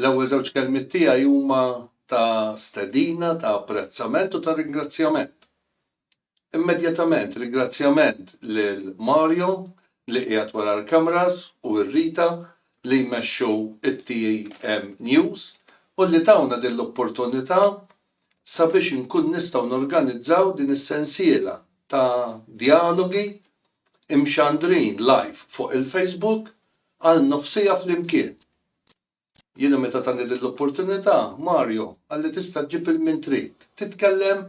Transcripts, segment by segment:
L-ewwel żewġ kelmiet tiegħi huma ta' stedina, ta' apprezzament u ta' ringrazzjament. Immedjatament ringrazzjament lil Mario li qiegħed wara l-cameras u r-Rita li jmexxu it-TM News u li tawna din l-opportunità sabiex inkun nistgħu norganizzaw din is-sensiela ta' djalogi imxandrin live fuq il-Facebook għal nofsiegħa flimkien. Jiena meta tani din l-opportunità, Mario, qalli tista' ġġib 'il min trid, titkellem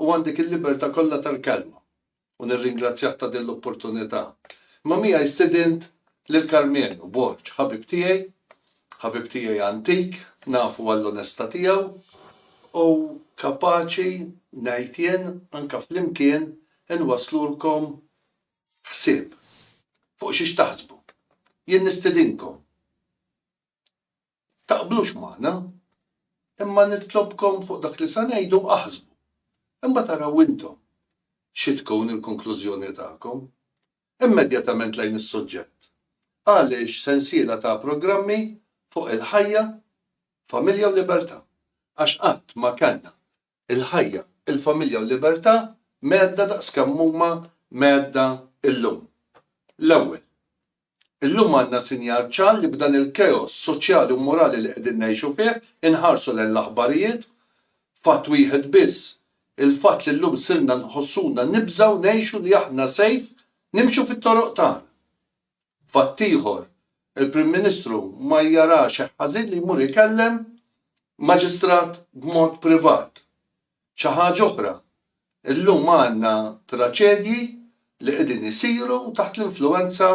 u għandek il-libertà kollha tal-kelma. U nirringrazzjah ta' din l-opportunità. Imma miegħi stidint lil Karmenu Borg, ħabib tiegħi, ħabib tiegħi antik, nafu għall-onestà tiegħu u kapaċi, ngħid jien, anke flimkien inwasslulkom ħsieb fuq xiex taħsbu. Jien nistedinkom taqblux magħna imma nitlobkom fuq dak li se ngħidu aħsbu. Imbagħad araw intom xi tkun il-konklużjoni tagħkom. Immedjatament lejn is-suġġett. Għaliex sensiela ta' programmi fuq il-ħajja, familja u libertà? Għax qatt ma kellna il-ħajja, il-familja u l-libertà mhedda daqs kemm huma mhedda llum. L-ewwel, illum għandna sinjal ċar li b'dan il-chaos soċjali u morali li qegħdin ngħixu fih, inħarsu lejn l-aħbarijiet, fatt wieħed biss, il-fatt li llum sirna nħossuna nibżgħu ngħixu li aħna safe nimxu fit-toroq tagħna. Fatt ieħor, il-Prim Ministru ma jara xejn ħażin li jmur ikellem maġistrat b'mod privat. Xi ħaġa oħra, illum għandna traċedji li qegħdin isiru taħt l-influwenza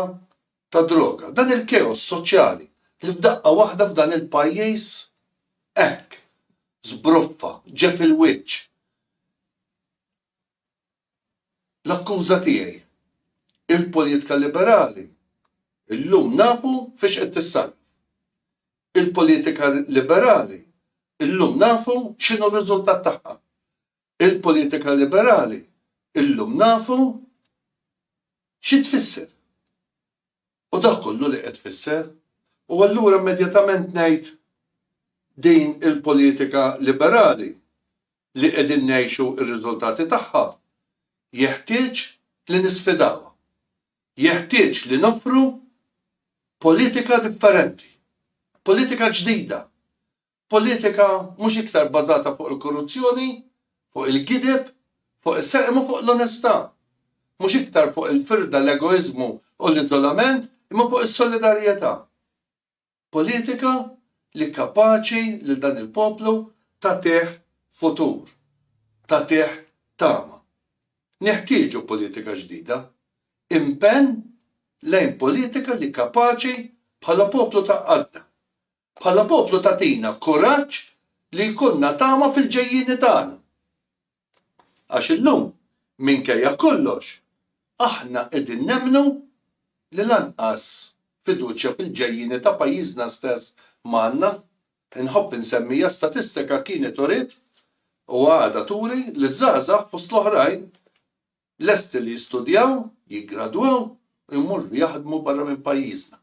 tad-droga. Dan il-keos soċjali li f'daqqa waħda f'dan il-pajjiż hekk żbroffa, ġie fil-wiċċ, L-akkuża tiegħi. Il-poliitka liberali llum nafu fiex qed tissarraf. Il-poliitika liberali llum nafu x'inhu r-riżultat tagħha. Il-poliitika liberali llum nafu xi tfisser. U dak kollu li qed tfisser. U allura immedjatament ngħid din il-politika liberali li qegħdin ngħixu r-riżultati tagħha jeħtieġ li nisfidawha. Jeħtieġ li noffru politika differenti. Politika ġdida. Politika mhux iktar bbażata fuq il-korruzzjoni, fuq il-gideb, fuq is-serq imma fuq l-onestà. Mhux iktar fuq il-firda, l-egoiżmu u l-iżolament imma fuq is-solidarjetà. Politika li kapaċi lil dan il-poplu tagħtih futur, tagħtih tama. Neħtieġu politika ġdida. Impenn lejn politika li kapaċi bħala poplu tgħaqqadna. Bħala poplu tagħtina kuraġġ li jkollna tama fil-ġejjieni tagħna. Għax illum, minkejja kollox, aħna qegħdin nemmnu li lanqas fiduċja fil-ġejjieni ta' pajjiżna stess m'għandna. Inħobb insemmi hija statistika kienet uriet u għadha turi li ż-żgħażagħ fost l-oħrajn, lesti li jistudjaw, jiggradwaw u jmorru jaħdmu barra minn pajjiżna.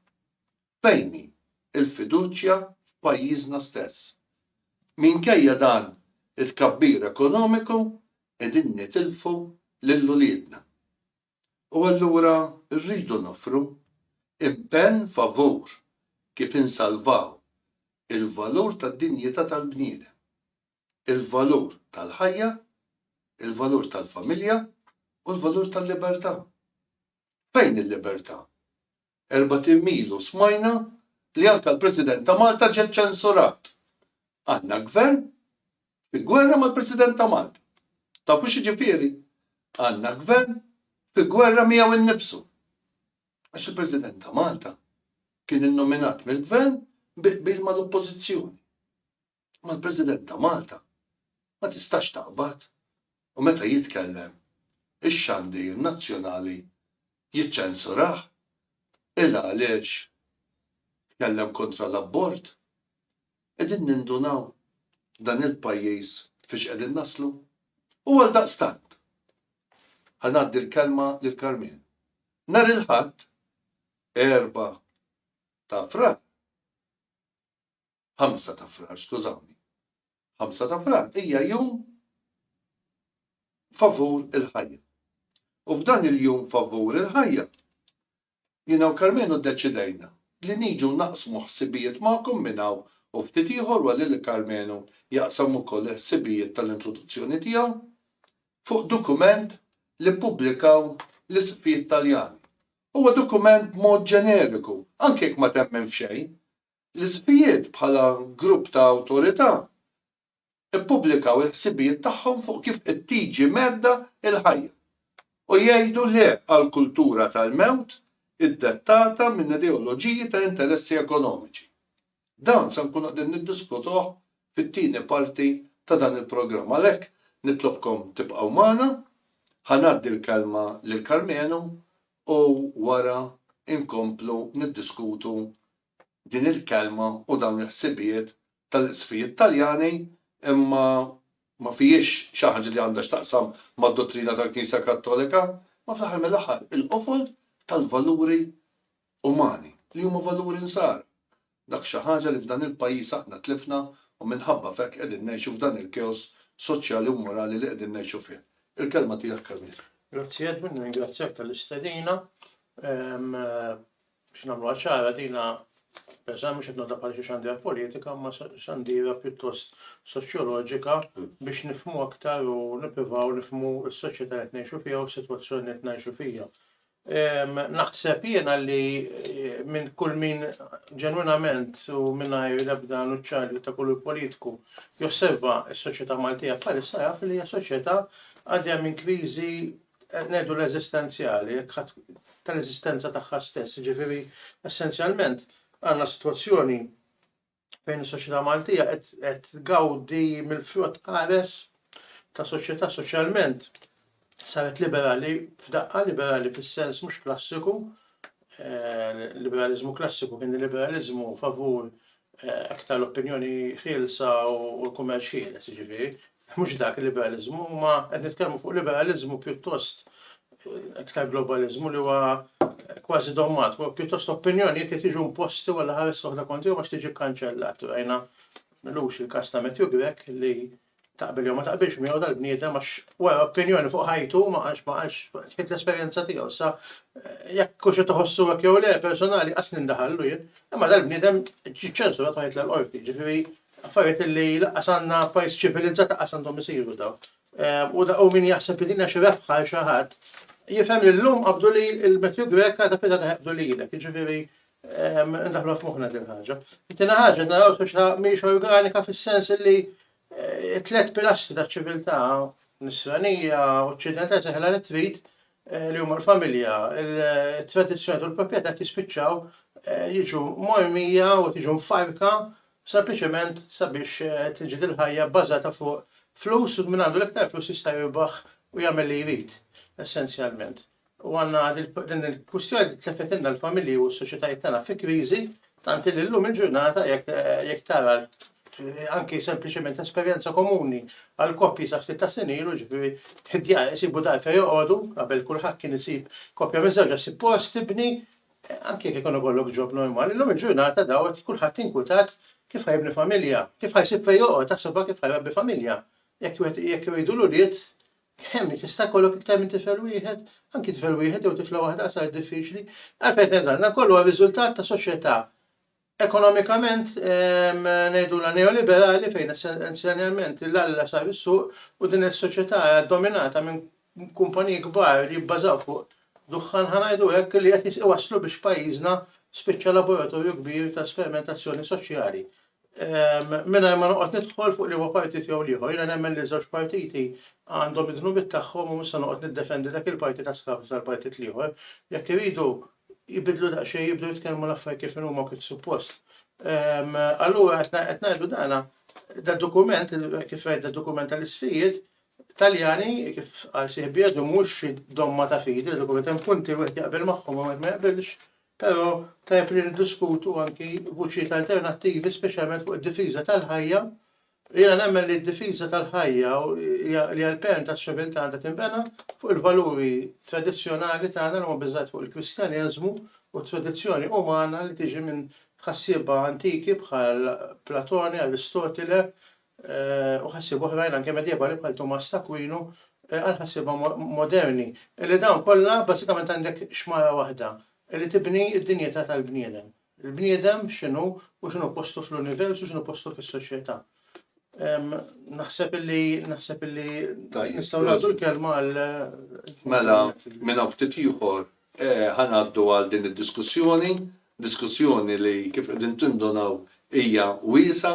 Fejn hi l-fiduċja f'pajjiżna stess? Minkejja dan it-tkabbir ekonomiku qegħdin nitilfu lil uliedna. U allura rridu noffru impenn favur kif insalvaw il-valur tad-dinjità tal-bniedem. il-valur tal-ħajja, il-valur tal-familja u l-valur tal-libertà. Fejn il-libertà? Erbat'im ilu smajna li anke l-President ta' Malta ġie ċensurat. Għandna gvern fi gwerra mal-President ta' Malta. Tafu x'jiġifieri? Għandna gvern fi gwerra miegħu innifsu. Għax il-President ta' Malta kien innominat mill-gvern bi qbil mal-Oppożizzjoni. Imma l-President ta' Malta ma tistax taqbad u meta jitkellem ix-xandir nazzjonali jiċċensurah? Qilha għaliex tkellem kontra l-abort? Qegħdin nindunaw dan il-pajjiż fiex qegħdin naslu? U għaldaqstant, ħa ngħaddi l-kelma lil Karmien. Nhar il-Ħadd, erbgħa ta' Frar, 5 ta' Frar, skużawni. 5 ta' Frar hija jum favur il-ħajja. U f'dan il-jum favur il-ħajja, jiena u Karmenu ddeċidejna li niġu naqsmu ħsibijiet magħkom minn hawn u ftit ieħor wara li Karmenu jaqsam ukoll il-ħsibijiet tal-introduzzjoni tiegħu fuq dokument li ppubblikaw l-Isqfijiet Taljani. Huwa dokument b'mod ġeneriku, anke jekk ma temmen f'xejn, L-ispijjiet bħala grupp ta' awtorità ppubblikaw il-ħsibijiet tagħhom fuq kif qed tiġi mhedda l-ħajja u jgħidu le għal kultura tal-mewt iddettata minn ideoloġiji ta' interessi ekonomiċi. Dan se nkunu qegħdin niddiskutuh fit-tieni parti ta' dan il-programm għalhekk nitlobkom tibqgħu magħna. Ħa ngħaddi l-kelma lil Karmenu u wara nkomplu niddiskutu din il-kelma u dawn il-ħsibijiet tal-Isqfijiet Taljani imma ma fihiex xi ħaġa li għandha x'taqsam mad-dottrina tal-Knisja Kattolika, imma fl-aħħar mill-aħħar il-qofol tal-valuri umani li huma valuri Nsara. Dak xi ħaġa li f'dan il-pajjiż aħna tlifna u minħabba f'hekk qegħdin ngħixu f'dan il-keos soċjali u morali li qegħdin ngħixu fih. Il-kelma tiegħek Camille. Grazzi Edwin, nirringrazzjak tal-istedina. Biex nagħmluha ċara, dina pereżempju mhux qed nagħtha bħala xi xandira politika, imma xandira pjuttost soċjoloġika biex nifhmu aktar u nippruvaw nifhmu s-soċjetà qed ngħixu fiha u s-sitwazzjoni qed ngħixu fiha. Naħseb jiena li eh, minn kull min ġenwinament u minnajr l-ebda nuċċarju ta' kull politiku josserva s-soċjetà Maltija bħalissa jaf li hija soċjetà għadja minn kriżi qed ngħidu l-eżistenzjali, tal-eżistenza tagħha stess, jiġifieri essenzjalment għandna sitwazzjoni fejn is-soċjetà Maltija qed tgawdi mill-frott qares ta' soċjetà soċjalment saret liberali f'daqqa, liberali fis-sens mhux klassiku, eh, liberaliżmu klassiku kien liberaliżmu favur aktar l-opinjoni ħielsa u l-kummerċ ħieles, jiġifieri, mhux dak il-liberaliżmu, ma qed nitkellmu fuq liberaliżmu pjuttost aktar globaliżmu li huwa kważi dommat, pjuttost opinjonijiet li tiġu imposti wara ħares oħra konti għax tiġi kkanċellat. Rajna lux il-kas ta' Matthew Grek li Taqbel jew ma taqbilx miegħu dal-bniedem għax wara opinjoni fuq ħajtu ma għax ma għax ħid l-esperjenza tiegħu sa jekk hux qed iħossu hekk jew le personali qas nindaħallu jien. Imma dal-bniedem ġi ċensurat ma jitla' l-qorti, ġifieri affarijiet li laqqas għandna pajjiż ċivilizzat laqqas għandhom isiru daw. Ehm, u u min jaħseb li din xi rebħa xi ħadd jifhem li llum qabdu li l-Matthew Greka ta' fida ta' qabdu lilek, jiġifieri Ndaħlu f'moħħna din ħaġa. Tina ħaġa naraw soċjetà mhix organika fis-sens li eh, tliet pilastri ta' ċiviltà nisranija, oċċidentali seħla li trid eh, li huma l-familja, il-tradizzjoni u l-proprjetà tispiċċaw eh, jiġu mormija u tiġu mfarka sempliċement sabiex tiġi dil-ħajja bbażata fuq flus u minn għandu l-iktar flus jista' jirbaħ u jagħmel li jrid essenzjalment. U għandna din il-kwistjoni li tleffetilna l-familji u s-soċjetajiet tagħna fi kriżi, tant li llum il-ġurnata jekk tara anki sempliċement esperjenza komuni għal koppji sa ftit ta' snin ilu ġifieri ħidjar isibu dar fejn joqogħdu qabel kulħadd kien isib koppja minn żewġ isib post tibni anke jekk ikun ikollok ġob normali, llum il-ġurnata dawet kulħadd inkwitat kif ħajbni familja, kif ħajsib fejn joqgħod, taħsibha kif ħajrabbi familja. Jekk jekk jridu l-ulied Ħemmi, tista' jkollok iktar minn tifel wieħed? Anki tifel wieħed jew tifla waħda qasar diffiċli. Għalfejn tgħid dan? Dan kollu huwa riżultat ta' soċjetà ekonomikament ehm, ngħidulha neoliberali fejn essenzjalment l-alla sar is-suq u din is-soċjetà dominata minn kumpaniji kbar li jibbażaw fuq duħħan ħanajdu hekk li qed iwasslu biex pajjiżna spiċċa laboratorju kbir ta' sperimentazzjoni soċjali Mingħajr ma noqgħod nidħol fuq liema partit jew l-ieħor, jiena nemmen li ż-żewġ partiti għandhom id-dnubiet tagħhom u mhux se noqgħod niddefendi dak il-partit a skapitu tal-partit l-ieħor. Jekk iridu jbiddlu daqsxejn, jibdew jitkellmu l-affarijiet kif inhuma u kif suppost. Allura qed ngħidu dan dad-dokument, kif rajt dad-dokument tal-isfijiet, Taljani, kif qal sieħbi Edu, mhux xi domma ta' fidi, dad-dokument hemm punti li wieħed jaqbel magħhom u wieħed ma jaqbilx, Però tajjeb li niddiskutu anki vuċijiet alternattivi speċjalment fuq id-difiża tal-ħajja. Jiena nemmen li d-difiża tal-ħajja li hija l-perm taċ-ċiviltà għandha tinbena fuq il-valuri tradizzjonali tagħna li huma bbażati fuq il-Kristjaneżmu u t-tradizzjoni umana li tiġi minn tħassiba antiki bħal Platone, Aristotile, u ħassieb oħrajn anke medjevali bħal Tumas t'Akwinu għal ħassieba moderni, li dawn kollha bażikament għandek xmara waħda li tibni d-dinjità tal-bniedem. Il-bniedem x'inhu u x'inhu postu fl-univers u x'inhu postu fis-soċjetà. Naħseb illi naħseb illi nistgħu nagħtu l-kelma għal Mela, minn hawn ftit ieħor eh, ħanaddu għal din id-diskussjoni, diskussjoni li kif qegħdin tindonaw hija wiesa,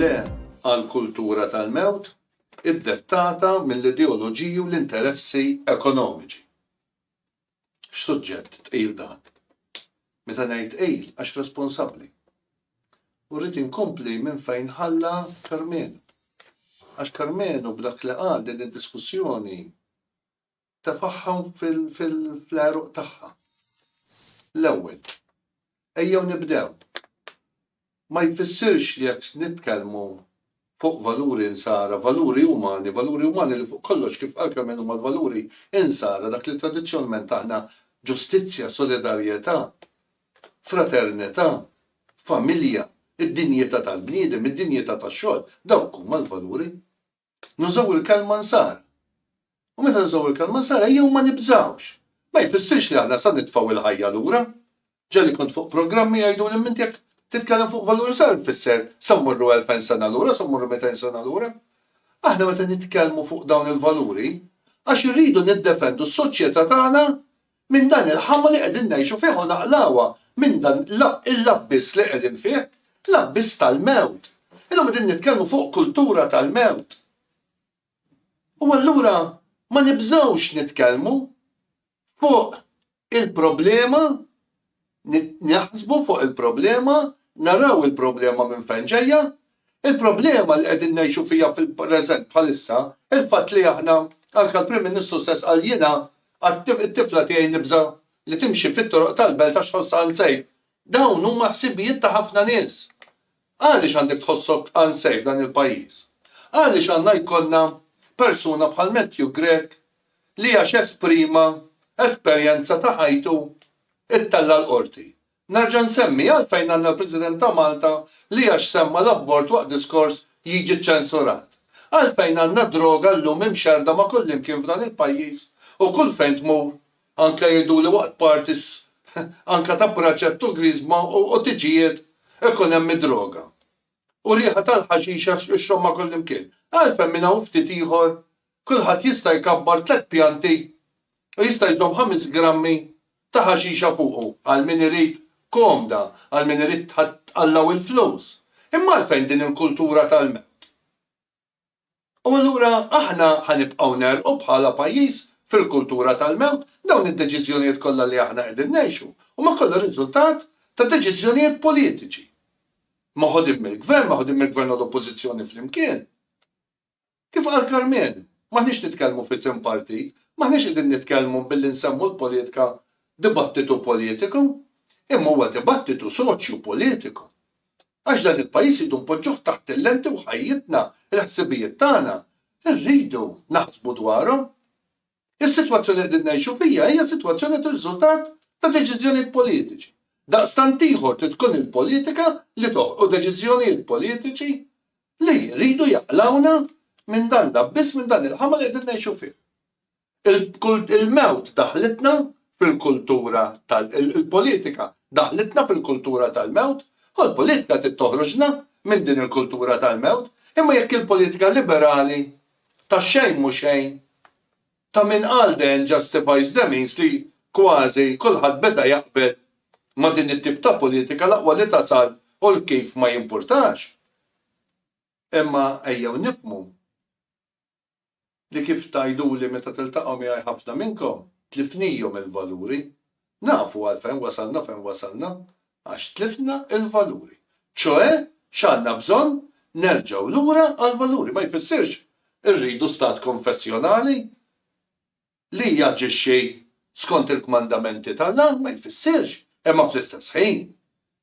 Le għall-kultura tal-mewt iddettata mill-ideoloġiji u l-interessi ekonomiċi. X'suġġett tqil dan! Meta ngħid tqil għax responsabbli. U rrid inkompli minn fejn ħalla Karmenu. Għax Karmenu b'dak li qal din id-diskussjoni tefagħha fl-għeruq tagħha. L-ewwel, ejjew nibdew. Ma jfissirx li jekk nitkellmu fuq valuri insara, valuri umani, valuri umani li fuq kollox kif qal kemm huma l-valuri insara dak li tradizzjonalment aħna ġustizzja, solidarjetà, fraternità, familja, id-dinjità tal-bniedem, id-dinjità tax-xogħol, dawk huma l-valuri. Nużaw il-kelma nsar. U meta nużaw il-kelma nsar ejjew ma nibżgħux. Ma jfissirx li aħna sa nitfgħu il-ħajja lura. Ġa li kont fuq programmi jgħiduli m'int jekk titkellem fuq valur nsar tfisser sa mmorru elfejn sena lura, sa mmorru mitejn sena lura. Aħna meta nitkellmu fuq dawn il-valuri għax irridu niddefendu s-soċjetà tagħna minn dan il-ħama li qegħdin ngħixu fih u naqlgħuha minn dan l-abbiss li qegħdin fih, l-abbiss tal-mewt. Illum qegħdin nitkellmu fuq kultura tal-mewt. U allura ma nibżgħux nitkellmu fuq il-problema Naħsbu fuq il-problema, naraw il-problema minn fejn ġejja. Il-problema li qegħdin ngħixu fiha fil-preżent bħalissa, il-fatt li aħna, anke l-Prim Ministru stess qal jiena għat-tifla tiegħi nibża' li timxi fit-toroq tal-belt għax tħossha unsejf. Dawn huma ħsibijiet ta' ħafna nies. Għaliex għandek tħossok unsafe f'dan il-pajjiż? Għaliex għandna jkollna persuna bħal Matthew Grech li għax esprima esperjenza ta' ħajtu ittella' l-Qorti? Nerġa' nsemmi għalfejn għandna l-President ta' Malta li għax semma l-abort waqt diskors jiġi ċċensurat? Għalfejn għandna droga llum imxerrda ma' kullimkien f'dan il-pajjiż u kull fejn tmur Anka jgħiduli waqt parties anka ta' braċet u griżma u tiġijiet ikun hemm id-droga. U riħa tal-ħaxixa xxomma kullimkien. Għalfejn minn hawn ftit ieħor kulħadd jista' jkabbar tliet pjanti u jista' jżomm ħames grammi ta' ħaxixa fuqu għal min irid komda, għal min irid tħatt Alla u l-flus. Imma għalfejn din il-kultura tal-mewt? U allura aħna ħa nibqgħu negħrqu bħala pajjiż fil-kultura tal-mewt, dawn id-deċiżjonijiet kollha li aħna qegħdin ngħixu huma kollha riżultat ta' deċiżjonijiet politiċi maħudin mill-Gvern, maħudin mill-Gvern u l-Oppożizzjoni flimkien. Kif qal Karmenu, m'aħniex nitkellmu f'isem partit, m'aħniex qegħdin nitkellmu billi nsemmu l-politika dibattitu politiku, imma huwa dibattitu soċju-politiku. Għax dan il-pajjiż irridu npoġġuh taħt il-lenti u ħajjitna, il-ħsibijiet tagħna, irridu naħsbu dwarhom. Is-sitwazzjoni li qegħdin ngħixu fiha hija sitwazzjoni li tirriżultat ta' deċiżjonijiet politiċi. Daqstant ieħor trid tkun il-politika li toħloq deċiżjonijiet politiċi li jridu jaqlgħuna minn dan l-abbiss, minn dan il-ħama li qegħdin ngħixu fih. Il-mewt daħħlitna fil-kultura tal-, il-politika daħħlitna fil-kultura tal-mewt, u l-politika trid toħroġna minn din il-kultura tal-mewt, imma jekk il-politika liberali ta' xejn mhu xejn, ta' min qal the end justifies the means li kważi kulħadd beda jaqbel ma' din it-tip ta' politika l-aqwa li tasal u l-kif ma jimpurtax. Imma ejjew nifhmu. li kif tgħiduli meta tiltaqgħu miegħi ħafna minnkom tlifnihom il-valuri. Nafu għalfejn wasalna fejn wasalna, għax tlifna l-valuri. Ċoe, x'għandna bżonn? Nerġgħu lura għall-valuri. Ma jfissirx irridu stat konfessjonali. Li jaġixxi skont il-kmandamenti t'Alla ma jfissirx, imma fl-istess ħin,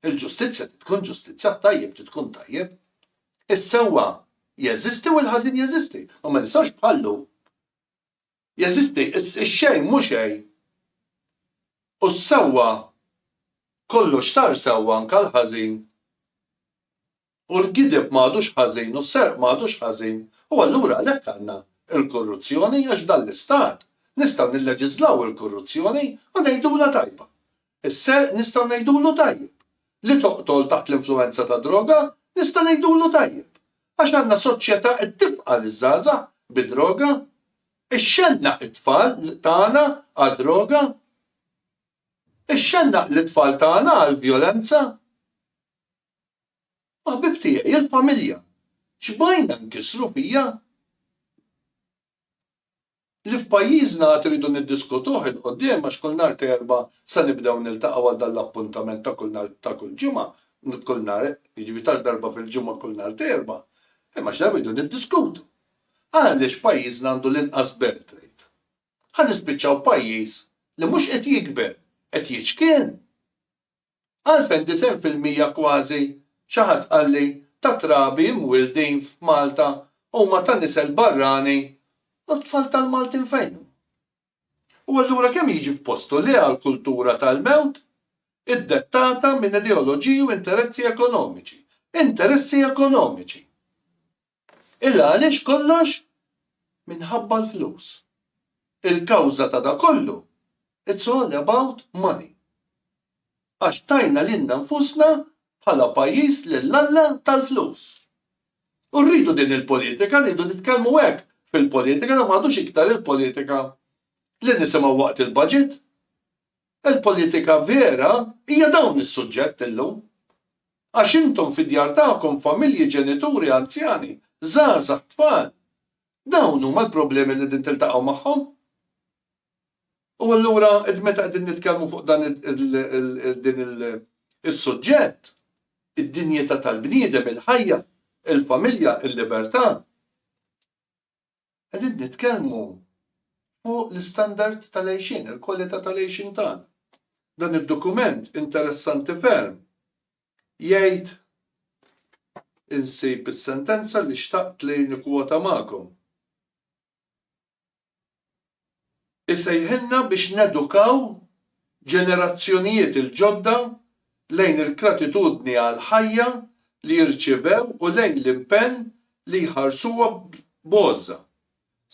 il-ġustizzja trid tkun ġustizzja, t-tajjeb trid tkun tajjeb. Is-sewwa jeżisti u l-ħażin jeżisti, u ma nistgħux bħal-lum. Jeżisti x-xejn mhu xejn u s-sewwa kollox sar sewwa anke l-ħażin. U l-gideb ma għadux ħażin u s-serq ma għadux ħażin u allura għalhekk għandna l-korruzzjoni għax f'dan l-istat nistgħu nilleġiżlaw il-korruzzjoni u ngħidulha tajba. Is-serq nistgħu ngħidulu tajjeb. Li toqtol taħt l-influwenza tad-droga nista' ngħidulu tajjeb. Għax għandna soċjetà qed tifqa' liż-żgħażagħ bid-droga. Ixxennaq it-tfal tagħna għad-droga. Ixxennaq lit-tfal tagħna għall-vjolenza. U ħbieb tiegħi, il-familja, x'bajna nkissru fija? Li f'pajjiżna għad irridu niddiskutuh 'il quddiem għax kull nhar t'Erbgħa se nibdew niltaqgħu għal dan l-appuntament ta' kull nhar ta' kull ġimgħa, kull nhar, jiġifieri ta' darba fil-ġimgħa kull nhar t'Erbgħa. Imma x'darba rridu niddiskutu. Għaliex pajjiżna għandu l-inqas belt tgħid? Ħa nispiċċaw pajjiż li mhux qed jikber, qed jiċkien! Għalfejn disgħin fil-mija kważi, xi ħadd qalli, tat-trabi imwieldin f'Malta huma ta' nisel barrani u t-tfal tal-Maltin fejn hu? U allura kemm jiġi f'postu li għal kultura tal-mewt iddettata minn ideoloġiji u interessi ekonomiċi, interessi ekonomiċi! Illa għaliex kollox minħabba l-flus. Il-kawża ta' da kollu, it's all about money. Għax tajna lilna nfusna bħala pajjiż lill-Alla tal-flus. U rridu din il-politika, rridu nitkellmu hekk fil-politika, da m'għadux iktar il-politika li nisimgħu waqt il-budget. Il-politika vera hija dawn is-suġġett illum. Għax intom fid-djar tagħkom, familji, ġenituri, anzjani, żgħażagħ, tfal. Dawn huma l-problemi li qegħdin tiltaqgħu magħhom. U allura qed meta qegħdin nitkellmu fuq dan din is-suġġett, id-dinjità tal-bniedem, il-ħajja, il-familja, il-libertà. Qegħdin nitkellmu fuq l-istandard tal-għejxien, il-kwalità tal-għejxien tagħna. Dan id-dokument interessanti ferm jgħid insib is-sentenza li xtaqt li nikkwota magħkom. isejħilna biex nedukaw ġenerazzjonijiet il-ġodda lejn il-gratitudni għall-ħajja li jirċievew u lejn l-impenn li jħarsuha b'għożża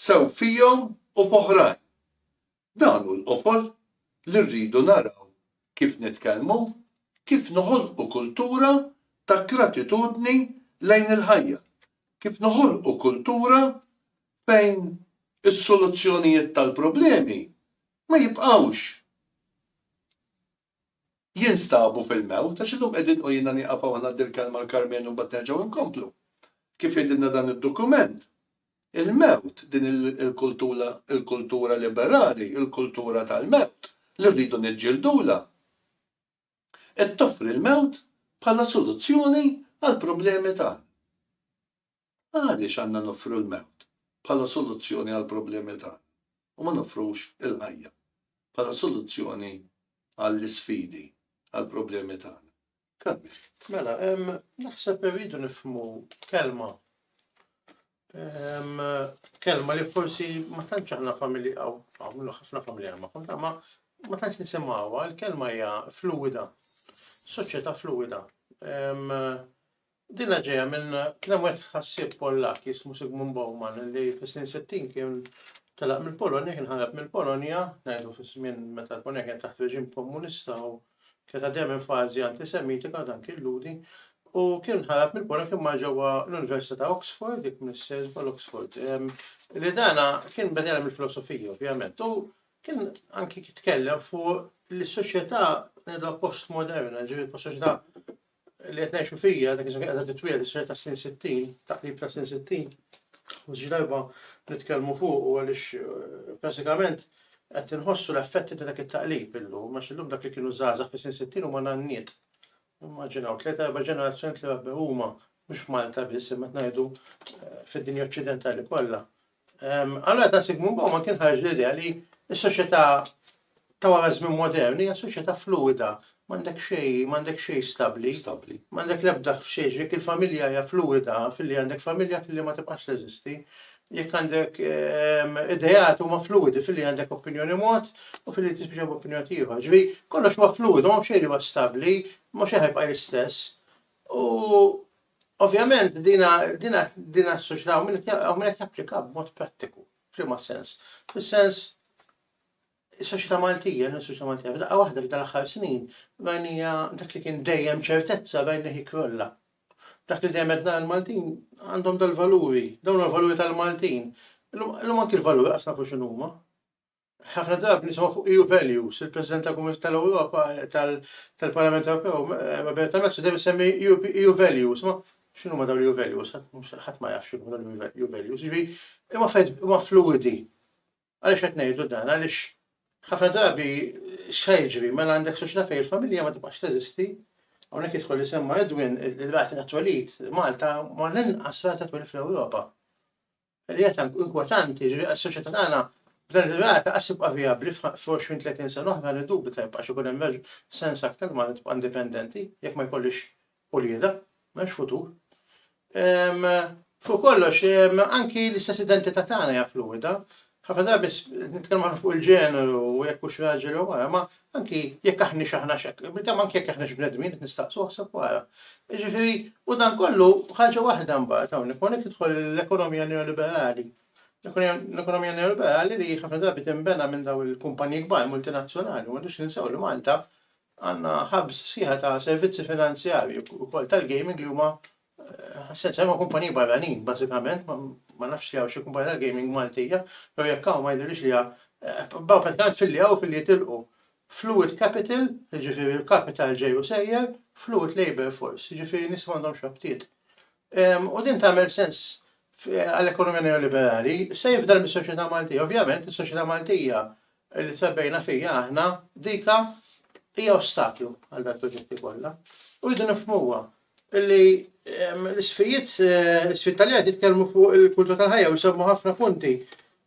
sew fihom u f'oħrajn. Dan hu l-qofol li rridu naraw kif nitkellmu, kif noħolqu kultura ta' gratitudni lejn il-ħajja, kif noħolqu kultura fejn is-soluzzjonijiet tal-problemi ma jibqgħux jinstabu fil-mewt, għax illum qegħdin u jiena nieqaf hawn ngħaddi l-kelma l-Karmenu u mbagħad nerġgħu nkomplu. Kif jgħidilna dan id-dokument, il-mewt, din il-kultura il-kultura liberali, il-kultura tal-mewt li rridu niġġildula, qed toffri l-mewt bħala soluzzjoni għall-problemi tagħna. Għaliex għandna noffru l-mewt bħala soluzzjoni għall-problemi tagħna u ma noffrux il-ħajja bħala soluzzjoni għall-isfidi, għall-problemi tagħna? Kellna. Mela, naħseb irridu nifhmu kelma, kelma li forsi ma tantx aħna familji, hawn ħafna familjar magħha, imma ma tantx nisimgħuha, il-kelma hija fluwida, soċjetà fluwida. Dinha ġejja minn kliem wieħed ħassieb Pollakk jismu Zygmunt Bauman li fis-snin sittin kien telaq mill-Polonja, kien ħareb mill-Polonja, ngħidu fiż-żmien meta l-Polonja kienet taħt reġim komunista u kienet għaddejja minn fażi antisemitika, dan kien Ludi, u kien ħareb mill-Polonja kien mar ġewwa l-Università ta' Oxford, dik missier bħal Oxford. Li dana kien benjana mill-filosofija, ovvjament, u kien anki tkellem fuq li s-soċjetà postmoderna, ġifieri soċjetà li qed ngħixu fija, dak iż-żmien qiegħda titwieled is-sena ta' sin 60, taqrib ta' sin 60, u xi darba nitkellmu fuq u għaliex eh, bażikament qed inħossu l-effetti ta' dak it-taqlib illum, għax illum dak li kienu żgħażagħ fi sin 60 huma nanniet. Immaġinaw, tliet erba' ġenerazzjoni li għabbe huma mhux f'Malta biss imma ngħidu eh, fid-dinja Oċċidentali kollha Allura ta' Zygmunt Bauman kien ħareġ l-idea li s-soċjetà ta' wara żmien modern hija soċjetà fluwida, m'għandek xejn, m'għandek xejn stabbli. Stabbli. M'għandek l-ebda xejn, jekk il-familja hija fluwida, filli għandek familja, filli ma tibqax teżisti, jekk għandek ideat huma fluwidi, filli għandek opinjoni mod u filli tispiċċa b'opinjoni ieħor. Ġifieri kollox huwa fluwidu, m'hawn xejn li huwa stabbli, m'hawn xejn ħajbqa' l-istess. U Ovvjament din din is-soċjetà hawn min qed japplika b'mod prattiku. F'liema sens? Fis-sens is-soċjetà Maltija, is-soċjetà Maltija f'daqqa waħda f'dan l-aħħar snin bajnija dak li kien dejjem ċertezza bajnija jikrolla. Dak li dejjem għedna l-Maltin għandhom dal-valuri, dawn l-valuri tal-Maltin. Illum anki l-valuri qasna fuq x'inhuma. Ħafna drabi nisimgħu fuq EU values, il-President tal-Kumitat tal-Ewropa tal-Parlament Ewropew, Roberta Metsola, dejjem isemmi EU values. Ma x'inhuma dawn l-EU values? Ħadd ma jaf x'inhuma dawn l-EU values. Jiġri, imma fejn huma fluwidi. Għaliex qed ngħidu dan? Għaliex ħafna drabi x'se jiġri mela għandek soċjetà fejn il-familja ma tibqax teżisti, hawnhekk jidħol li semma Edwin il-rati ta' twelid, Malta ma l-inqas rata twelid fl-Ewropa. L-idea tant inkwetanti, jiġifieri għas-soċjetà tagħna, f'dan ir-rigward lanqas tibqa' vijabbli f'għoxrin, tletin sena oħra, niddubita jibqax ikun hemm sens aktar li Malta tibqa' indipendenti jekk ma jkollhiex uliedha. M'hemmx futur. Fuq kollox, anki l-istess identità tagħna hija fluwida. Ħafna drabi nitkellmu ħafna fuq il-ġeneru u jekk hux raġel jew mara, imma Anki jekk aħniex aħnax hekk, kemm anki jekk aħniex bnedmin qed nistaqsu aħseb wara. Jiġifieri, u dan kollu ħaġa waħda mbagħad hawnhekk hawnhekk tidħol l-ekonomija neoliberali. L-ekonomija neoliberali li ħafna drabi tinbena minn daw il-kumpaniji kbar multinazzjonali, ma dux ninsew li Malta għandna ħabs sieħa ta' servizzi finanzjarji wkoll tal-gaming li huma Ħassejt sema kumpaniji barranin, bażikament, ma nafx li hawn xi kumpanija tal-gaming Maltija, jew jekk hawn ma jidhirlix li hawn, baqgħu pratikament filli hawn u filli jitilqu. Fluid capital, jiġifieri l-kapital ġej u sejjer, fluid labour force, jiġifieri nies li m'għandhomx rabtiet. U din tagħmel sens għall-ekonomija neoliberali, se jifdal mis-soċjetà Maltija? Ovvjament, is-soċjetà Maltija li trabbejna fiha aħna, dika hija ostaklu għal dal-proġetti kollha. U rridu nifhmuha. Li l-isfijiet, l-isfid tal-jgħid jitkellmu fuq il-kultura tal-ħajja u jsemmu ħafna punti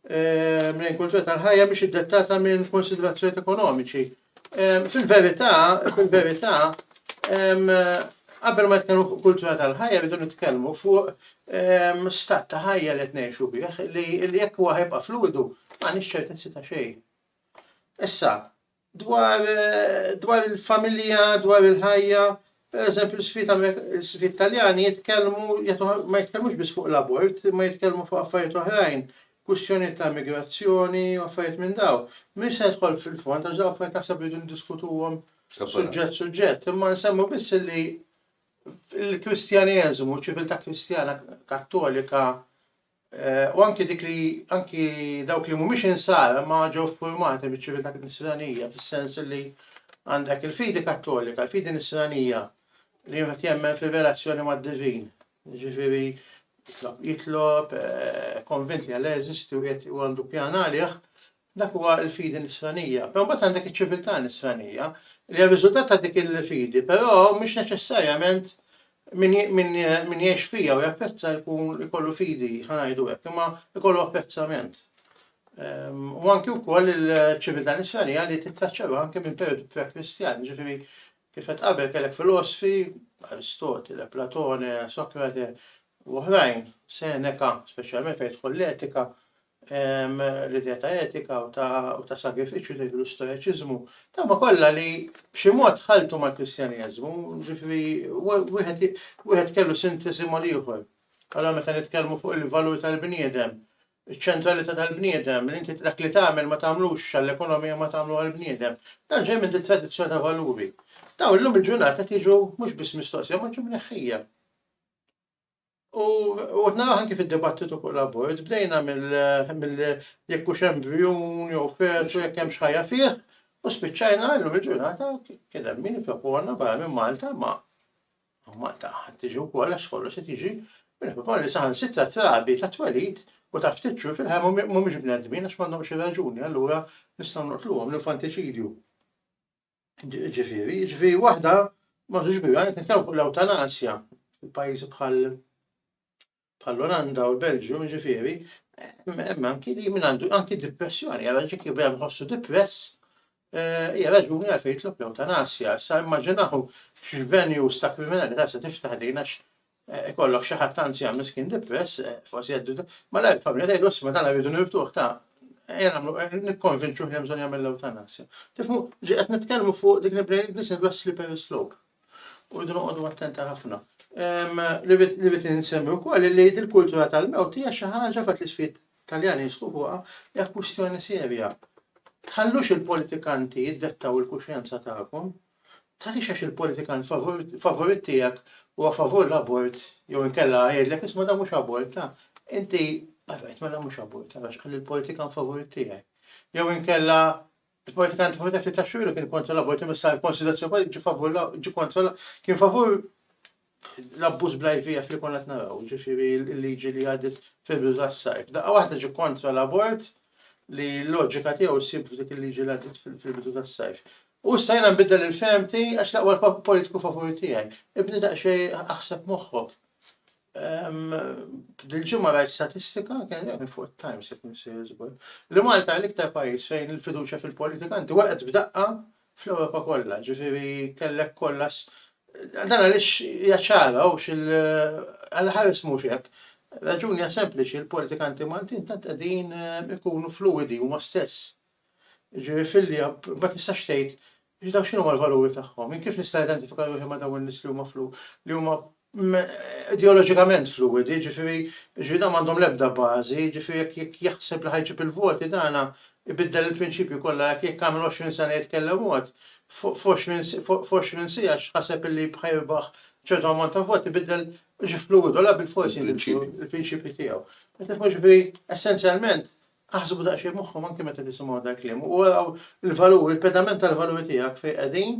minn il-kultura tal-ħajja mhix iddettata minn konsiderazzjonijiet ekonomiċi. Fil-verità, fil-verità, qabel ma nitkellmu fuq kultura tal-ħajja rridu nitkellmu fuq stat ta' ħajja li qed ngħixu bih li jekk huwa ħajbqa' fluidu m'għandniex ċertezzi ta' xejn. Issa, dwar dwar il-familja, dwar il-ħajja, per eżempju l-sfit taljani jitkellmu, ma jitkellmux biss fuq l-abort, ma jitkellmu fuq affarijiet oħrajn, kwistjoni ta' migrazzjoni, affarijiet minn daw. Mhux se jidħol fil-fond, għax daw affarijiet naħseb rridu ndiskutuhom suġġett suġġett, imma nsemmu biss li l-Kristjaneżmu, ċiviltà Kristjana Kattolika u anki dik li anki dawk li mhumiex insara ma ġew ffurmati miċ-ċiviltà nisranija fis-sens li għandek il-fidi kattolika, il-fidi nisranija li wieħed jemmen fir-relazzjoni mad-divin. Ġifieri jitlob, jitlob, eh, konvint li għal eżisti u għandu pjan għalih, Dak huwa l-fidi nisranija. Però mbagħad għandek iċ-ċiviltà nisranija, li hija r-riżultat ta' dik il-fidi, però mhix neċessarjament min, min, min jgħix fija u japprezza jkun ikollu fidi, ħa ngħidu hekk, imma ikollu apprezzament. Ehm, u anki wkoll il-ċiviltà nisranija li tittaċċarwa anke minn periodu pre-Kristjan, ġifieri kif qed qabel kellek filosfi, Aristotile, Platone, Sokrate, u oħrajn, Seneca, speċjalment fejn tħol l-etika, l-idea ta' etika u ta' sagrifiċċju tgħidlu stoeċiżmu, dawma kollha li b'xi mod ħaltu mal-Kristjaneżmu, ġifieri wieħed kellu sintesi mal-ieħor. Allora meta nitkellmu fuq il-valur tal-bniedem, iċ-ċentralità tal-bniedem, li inti dak li tagħmel ma tagħmlux għall-ekonomija ma tagħmlu għall-bniedem, dan ġej minn tradizzjoni ta' valuri. Dawn illum il-ġurnata tiġu mhux biss mistoqsija ma ġew mneħħija. U għodna għan kif id-dibattitu fuq l-abort, bdejna mill jekk hux embrjun jew fetu jekk hemm xħajja fih, u spiċċajna llum il-ġurnata kien hemm min propona barra minn Malta ma Malta tiġi wkoll għax kollu se tiġi minn propona li saħan sitra trabi ta' twelid u ta' ftit xhur fil-ħajja mhumiex bnedmin għax m'għandhomx ir-raġuni allura nistgħu noqtluhom l-infantiċidju. Ġifieri, ġifieri waħda ma tux biha, qed nitkellmu fuq l-ewtanasja f'pajjiżi bħal bħall-Olanda u l-Belġju, ġifieri, hemm anki li minn għandu anki depressjoni, għal ġik li bejn ħossu depress, eh, hija raġuni għal fejn jitlob l-ewtanasja. Sa immaġinaw x'venue sta kriminalità se tiftaħ din għax Ikollok xi ħadd anzjan miskin depress, forsi jgħaddu ma lajk familja tgħidu isma' dan rridu nirtuh ta' ejja nagħmlu nikkonvinċuh li bżonn jagħmel l-ewtanasja. Tifhmu, ġi qed nitkellmu fuq dik il-brain nisin dwar slippery slope. U rridu noqogħdu attenta ħafna. Li rrid insemmi wkoll li il-kultura tal-mewt hija xi ħaġa fatt li sfid Taljani jisħu fuqha hija kwistjoni serja. Tħallux il-politikanti jiddettaw il-kuxjenza tagħkom, Tgħallix għax il-politikant favorit tiegħek huwa favur l-abort jew inkella jgħidlek isma' dan mhux abort, ta' inti għarajt mela mhux abort għax qal il-politikan favorit tiegħek. Jew inkella il-politikant favorit tiegħek li taxxu kien kontra l-abort imma sar konsiderazzjoni ġi favur ġi kontra kien favur l-abbuż bl-IVF li konna qed naraw, ġifieri l-liġi li għaddiet fil-bidu tas-sajf. Daqqa waħda ġie kontra l-abort li l-loġika tiegħu ssib f'dik il-liġi li għaddiet fil-bidu tas-sajf. U issa jiena nbiddel il-fehmti għax l-aqwa l-politiku favur tiegħi. Ibni daqsxejn aħseb moħħok. Ehm, dil-ġimgħa rajt statistika, kien hemm fuq it-Times qed nisir żgur, li Malta l-iktar pajjiż fejn il-fiduċja fil-politikanti waqgħet b'daqqa fl-Ewropa kollha, ġifieri kellek kollas dan għaliex hija ċara hawnx il għal ħares mhux hekk. Raġuni hija sempliċi, il-politikanti Maltin tant qegħdin eh, ikunu fluwidi huma stess. Ġifieri filli ma tistax tgħid daw x'inhuma l-valuri tagħhom, jien kif nista' identifika ruħi ma' dawn in-nies li huma flu li huma ideoloġikament fluwidi, jiġifieri jiġifieri dawn m'għandhom l-ebda bażi, jiġifieri jekk jekk jaħseb li ħa jġib il-voti dana jbiddel il-prinċipji kollha jekk jekk għamel 20 sena jitkellem mod, f' f'għoxrin s' f'għoxrin siegħa x'ħaseb illi bħa jirbaħ ċertu ammont ta' voti biddel ġie fluwidu allura bilfors jinbidlu l-prinċipji tiegħu. Qed tifhmu jiġifieri essenzjalment aħsbu daqsxejn moħħkom anke meta tisimgħu dal-kliem u araw il-valuri, il-pedament tal-valuri tiegħek fejn qegħdin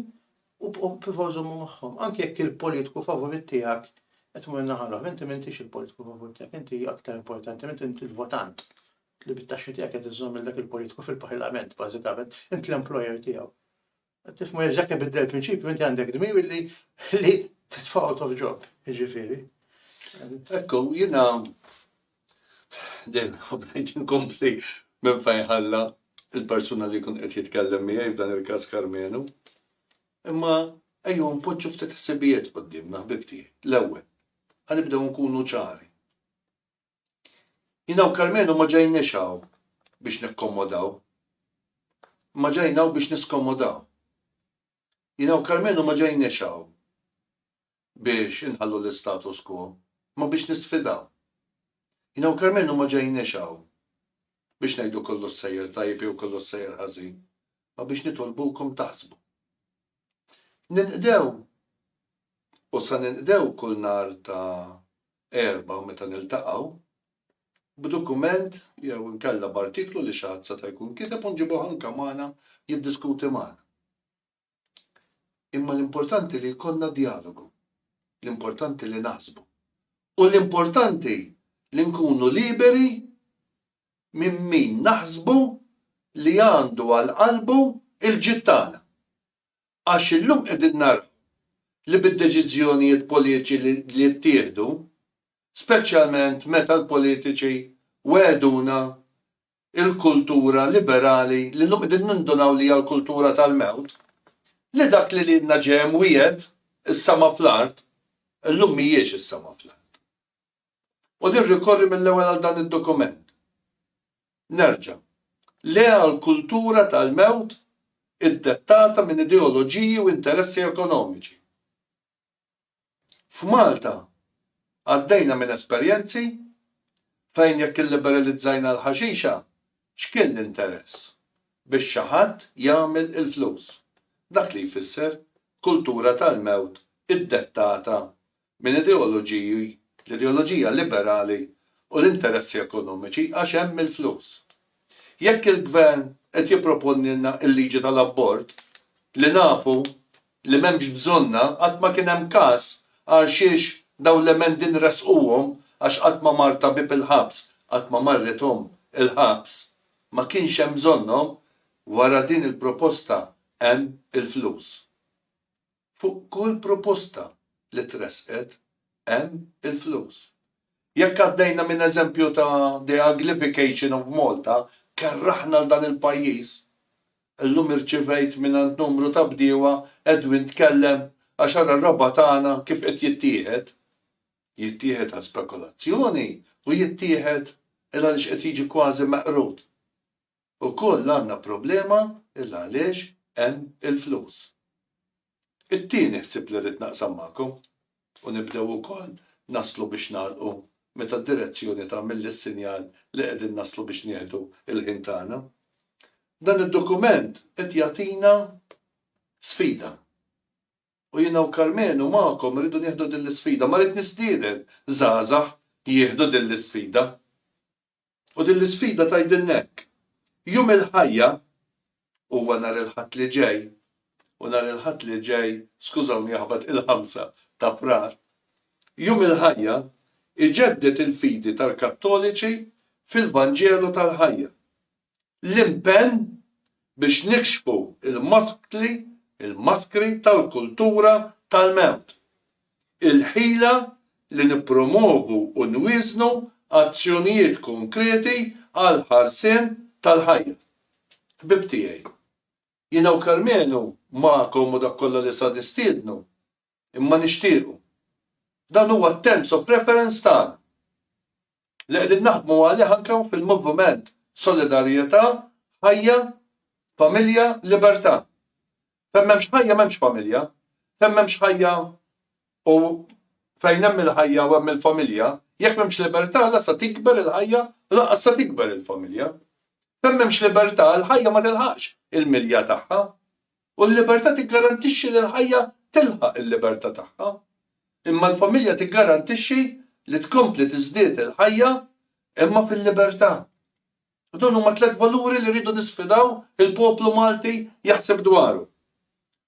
u b'prova żommu magħhom, anke jekk il-politiku favorit tiegħek qed imur in-naħa l-oħra, inti m'intix il-politiku favorit tiegħek, inti aktar importanti, inti inti l-votant li bit-taxxi tiegħek qed iżżommilek il-politiku fil-parlament, bażikament, int l-employer tiegħu. Tifmu jekk ibiddel il-prinċipju, inti għandek dmir li li titfa' out of job, jiġifieri. Ekku, jiena Dejjem inħobb ngħid inkompli minn fejn ħalla l-persuna li jkun qed jitkellem miegħi f'dan il-każ Karmenu. Imma ejjew npoġġu ftit ħsibijiet quddiemna ħbib tiegħi. L-ewwel, ħanibdew nkunu ċari. Jina u Karmenu ma ġejniex hawn biex nikkomodaw. Ma ġejna biex niskomodaw. Jina u Karmenu ma ġejniex hawn biex inħallu l-istatus quo, imma biex nisfidaw. Jiena u Karmenu ma ġejniex hawn biex ngħidu kollox sejjer tajjeb jew kollox sejjer ħażin, imma biex nitolbukom taħsbu. Ninqdew u sa ninqdew kull nhar ta' Erbgħa meta niltaqgħu, b'dukument jew inkella b'artiklu li xi ħadd seta' jkun kiteb u nġibuh anke magħna jiddiskuti magħna. Imma l-importanti li jkollna djalogu, l-importanti li naħsbu, u l-importanti li nkunu liberi minn min naħsbu li għandu għal qalbu l-ġid tagħna. Għax illum qegħdin naraw li bid-deċiżjonijiet politiċi li jittieħdu, speċjalment meta l-politiċi wegħduna il-kultura liberali li llum qegħdin nindunaw li hija l-kultura tal-mewt, li dak li lilna ġie mwiegħed, is-sema fl-art, illum mhijiex is-sema fl-art. U nirrikorri mill-ewwel għal dan id-dokument. Nerġa'. Le għall-kultura tal-mewt iddettata minn ideoloġiji u interessi ekonomiċi. F'Malta għaddejna minn esperjenzi fejn jekk illiberalizzajna l-ħaxixa x'kien l-interess? Biex xi ħadd jagħmel il-flus. Dak li jfisser kultura tal-mewt iddettata minn ideoloġiji, l-ideoloġija liberali u l-interessi ekonomiċi għax hemm il-flus. Jekk il-Gvern qed jipproponilna l-liġi tal-abort li nafu li m'hemmx bżonnha, qatt ma kien hemm każ għalxiex dawn l-emendi nressquhom għax qatt ma mar tabib il-ħabs, qatt ma marret omm il-ħabs. Ma kienx hemm bżonnhom, wara din il-proposta hemm il-flus. Fuq kull proposta li tressqet hemm il-flus. Jekk għaddejna minn eżempju ta' the uglification of Malta, kerraħna 'l dan il-pajjiż. Illum irċivejt mingħand numru ta' bdiewa Edwin tkellem għax ara r-raba' tagħna kif qed jittieħed. Jittieħed għal spekulazzjoni u jittieħed 'l għaliex qed jiġi kważi meqrud. Ukoll għandna problema il-għaliex hemm il-flus. It-tieni ħsieb li rrid naqsam magħkom, u nibdew ukoll naslu biex nagħlqu meta d-direzzjoni tagħmilli s-sinjal li qegħdin naslu biex nieħdu l-ħin tagħna. Dan id-dokument qed jagħtina sfida. U jiena u Karmenu magħkom irridu nieħdu din l-isfida. Ma rrid nistieden żgħażagħ jieħdu din l-isfida. U din l-isfida tgħidilna hekk, Jum il-Ħajja huwa nhar il-Ħadd li ġej, u nhar il-Ħadd li ġej, skużawni jaħbat il-Ħamsa ta' Frar. Jum il-Ħajja jġedded il-fidi tal-Kattoliċi fil-Vanġelu tal-Ħajja. l-impenn biex nikxfu l-maskli, il-maskri tal-kultura tal-mewt, il-ħila li nippromwovu u nwieżnu azzjonijiet konkreti għall-ħarsien tal-ħajja. Ħbieb tiegħi, jiena u Karmenu magħkom u dak kollha li sa nistiednu, Imma nixtiequ. Dan huwa t-terms of reference tagħna li qegħdin naħdmu għalih anke hawn fil-moviment Solidarjetà, Ħajja, Familja, Libertà. Fejn m'hemmx ħajja m'hemmx familja, fejn m'hemmx ħajja u fejn hemm il-ħajja u hemm il-familja, jekk m'hemmx libertà la se tikber il-ħajja u lanqas se tikber il-familja. Fejn m'hemmx libertà, il-ħajja ma tilħaqx il-milja tagħha. U l-libertà tiggarantixxi li l-ħajja tilħaq il-libertà tagħha. Imma l-familja tiggarantixxi li tkompli tiżdied il-ħajja imma fil-libertà. U dawn huma tliet valuri li rridu nisfidaw il-poplu Malti jaħseb dwarhom.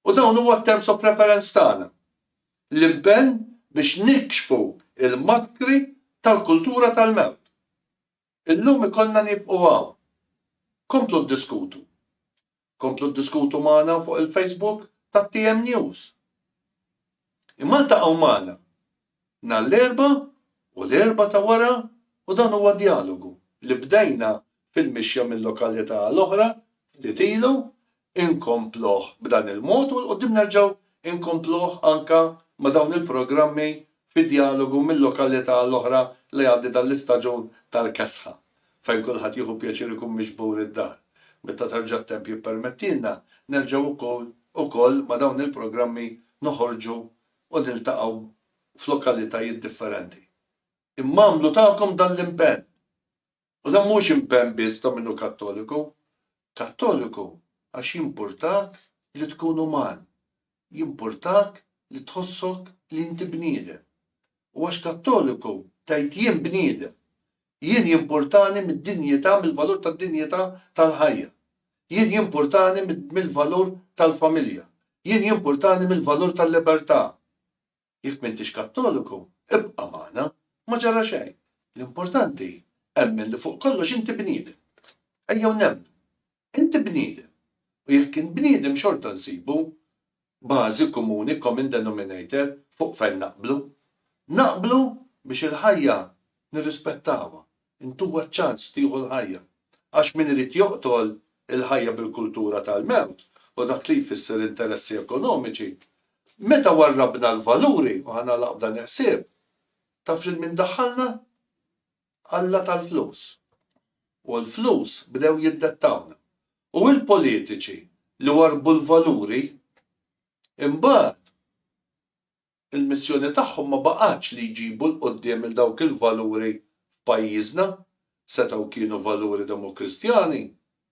U dawn huwa t-terms of reference tagħna. L-impenn biex nikxfu l-maskri tal-kultura tal-mewt. Illum ikollna nieqfu hawn. Komplu ddiskutu. Komplu ddiskutu magħna fuq il-Facebook tat-TM News. Imma ltaqgħu magħna nhar l-Erbgħa u l-Erbgħa ta' wara u dan huwa djalogu li bdejna fil-mixja minn lokalità għal oħra ftit ilu inkompluh b'dan il-mod u 'l quddiem nerġgħu nkompluh anke ma' dawn il-programmi fi djalogu minn lokalità għal oħra li jgħaddi dan l-istaġun tal-kesħa fejn kulħadd jieħu pjaċir ikun miġbur id-dar. Meta terġa' t-temp jippermettilna nerġgħu wkoll ukoll ma' dawn il-programmi noħorġu u niltaqgħu f'lokalitajiet differenti. Imma għamlu tagħkom dan l-impenn! U dan mhuwiex impenn biss ta' min hu Kattoliku. Kattoliku għax jimpurtak li tkun uman, jimpurtak li tħossok li inti bniedem. U għax Kattoliku tgħid jien bniedem. Jien jimpurtani mid-dinjità, mill-valur tad-dinjità tal-ħajja. Jien jimpurtani mill-valur tal-familja. Jien jimpurtani mill-valur tal-libertà. Jekk m'intix Kattoliku, ibqa' magħna, ma ġara xejn. L-importanti, emmen li fuq kollox inti bniedem. Ejjew nemmnu. Inti bniedem. U jekk int bniedem xorta nsibu bażi kumuni, common denominator, fuq fejn naqblu. Naqblu biex il-ħajja nirrispettawha, Intuha ċ-ċans tieħu l-ħajja. Għax min irid joqtol il-ħajja bil-kultura tal-mewt u dak li jfisser interessi ekonomiċi, meta warrabna l-valuri, u ħa nagħlaq b'dan il-ħsieb, taf lil min daħħalna? Alla tal-flus. U l-flus bdew jiddettawna. U l-politiċi li warrbu l-valuri, imbagħad, Il-missjoni tagħhom ma baqgħetx li jġibu 'l quddiem 'il dawk il-valuri f'pajjiżna. Setgħu kienu valuri Demokristjani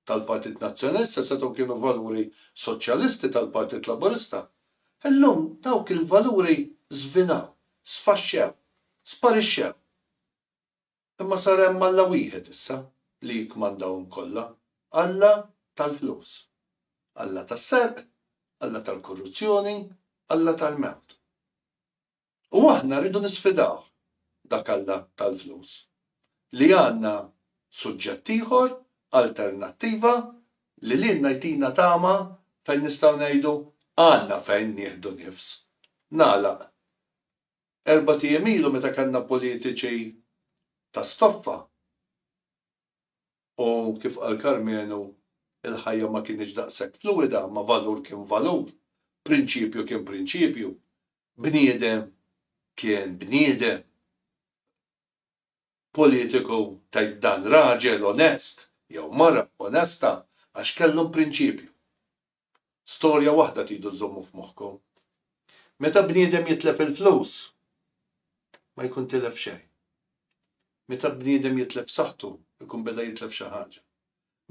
tal-Partit Nazzjonalista, setgħu kienu valuri Soċjalisti tal-Partit Laburista. Illum dawk il-valuri żvinaw, sfaxxew, sparixxew. Imma sar hemm Alla wieħed issa li jikkmandahom kollha, Alla tal-flus. Alla tas-serq, Alla tal-korruzzjoni, Alla tal-mewt. U aħna rridu nisfidawh, dak Alla tal-flus, li għandna suġġett ieħor, alternattiva, li lilna jtina tama fejn nistgħu ngħidu, Għandna fejn nieħdu nifs. Nagħlaq. Erbat ijiem ilu meta kellna politiċi ta' stoffa u kif qal Karmenu il-ħajja ma kinitx daqshekk fluwida ma valur kien valur, prinċipju kien prinċipju, bniedem kien bniedem. politiku tgħid dan raġel onest jew mara onesta għax kellhom prinċipju. Storja waħda tridu żżommu f'moħħkom. Meta bniedem jitlef il-flus, ma jkun tilef xejn. Meta bniedem jitlef saħħtu, ikun beda jitlef xi ħaġa.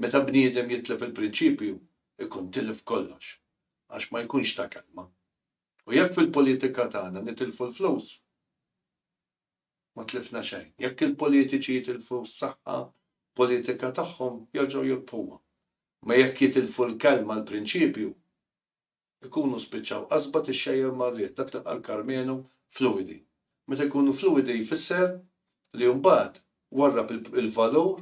Meta bniedem jitlef il-prinċipju, ikun tilef kollox, għax ma jkunx ta' kelma. U jekk fil-politika tagħna nitilfu l-flus, Ma tlifna xejn. Jekk il-politiċi jitilfu s-saħħa politika tagħhom, jerġgħu jirbħuha. Imma jekk jitilfu l-kelma, l-prinċipju, ikunu spiċċaw qasba tixxejjer mar-riħ, dak li qal Karmenu, fluwidi. Meta jkunu fluwidi jfisser li mbagħad warrab il-valur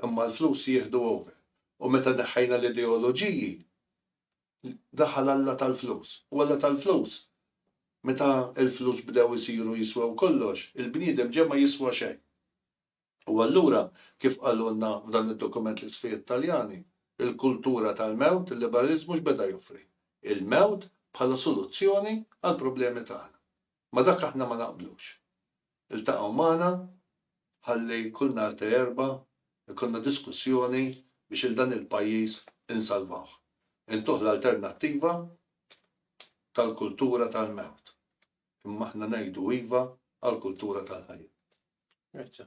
imma l-flus jieħdu over. U meta neħħejna l-ideoloġiji, daħal Alla tal-flus. U Alla tal-flus, meta l-flus bdew isiru jiswew kollox, il-bniedem ġie ma jiswa xejn. U allura, kif qalulna f'dan id-dokument l-isfejjed Taljani, il-kultura tal-mewt, il-liberaliżmu x'beda joffri? Il-mewt bħala soluzzjoni għall-problemi tagħna. Ma' dak aħna ma naqblux. Iltaqgħu magħna ħalli kull nhar ta' Erbgħa jkollna diskussjoni biex 'il dan il-pajjiż insalvawh. Intuh l-alternattiva tal-kultura tal-mewt. Imma aħna ngħidu iva għall-kultura tal-ħajja. Grazzi.